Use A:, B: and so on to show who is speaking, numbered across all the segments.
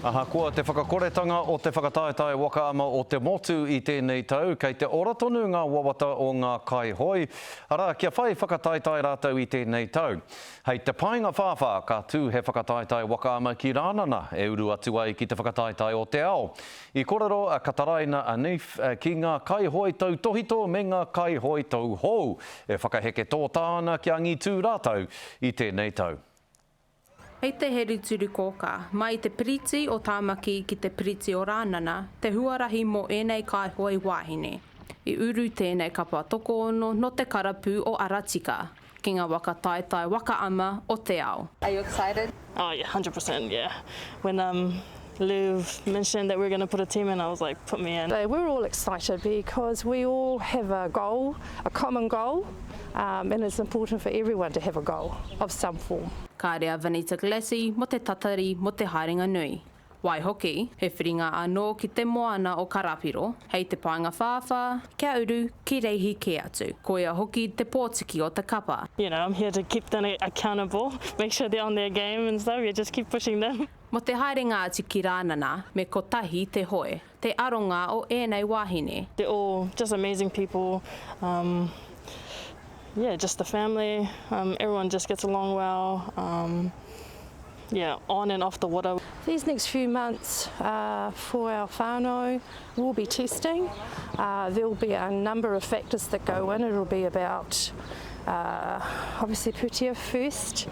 A: Ahakoa te whakakoretanga o te whakataetae waka ama o te motu i tēnei tau, kei te ora tonu ngā wawata o ngā kaihoe, arā, kia whai whakataetae rātou i tēnei tau. Hei te painga whāwhā, ka tū he whakataetae waka ama ki Rānana e uru atu ai ki te whakataetae o te ao. I kōrero a Kataraina Anif ki ngā kaihoe tautōhito me ngā kaihoe tauhou e whakaheke tōtā ana kia angitū rātou i tēnei tau. Hei
B: te Heri Turi Kōkā, mai i te Piriti o Tāmaki ki te Piriti o Rānana te huarahi mō ēnei kāihoi wāhine. I uru tēnei kapa tokoono nō te karapu o Aratika ki ngā waka taetae waka ama o te ao. Are you excited?
C: Oh yeah, hundred per
D: cent yeah when um Liv mentioned that we're going to put a team in, I was like, put me in. They were all excited
E: because we all have a goal, a common goal, um, and it's important for everyone to have a goal of some form. Kāre a Vanita
B: Glassie mo te tatari mo te haerenga nui. Waihoki, he whiringa anō ki te moana o Karapiro, hei te paenga whāwhā, kia uru, ki reihi kē atu. Koia hoki te pōtiki o te kapa. You know, I'm here to keep
D: them accountable, make sure they're on their game and stuff, yeah, just keep pushing them. Mō te haerenga atu
B: ki Rānana, me kotahi te hoe, te aronga o ēnei wāhine. They're all just
D: amazing people um yeah just the family um everyone just gets along well um yeah on and off the water. These next few
E: months are for our whānau. will be testing uh, there will be a number of factors that go in it'll be about uh, obviously putia first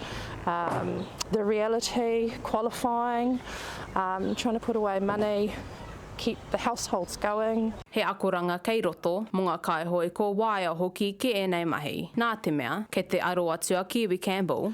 E: um, the reality qualifying um, trying to put away money keep the households going he akoranga
B: kei roto mo nga kaihoe ko waea hoki ki enei mahi na te mea kei te aro atu a kiwi campbell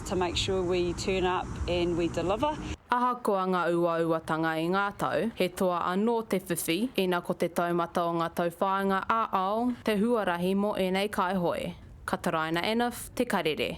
C: to make sure we turn up and we deliver. Ahakoa ngā
B: uauatanga i ngā tau, he toa anō te whiwhi, ina ko te taumata o ngā tauwhāinga ā-ao te huarahi mō ēnei kāihoe. Kataraina Enouf, Te Karere.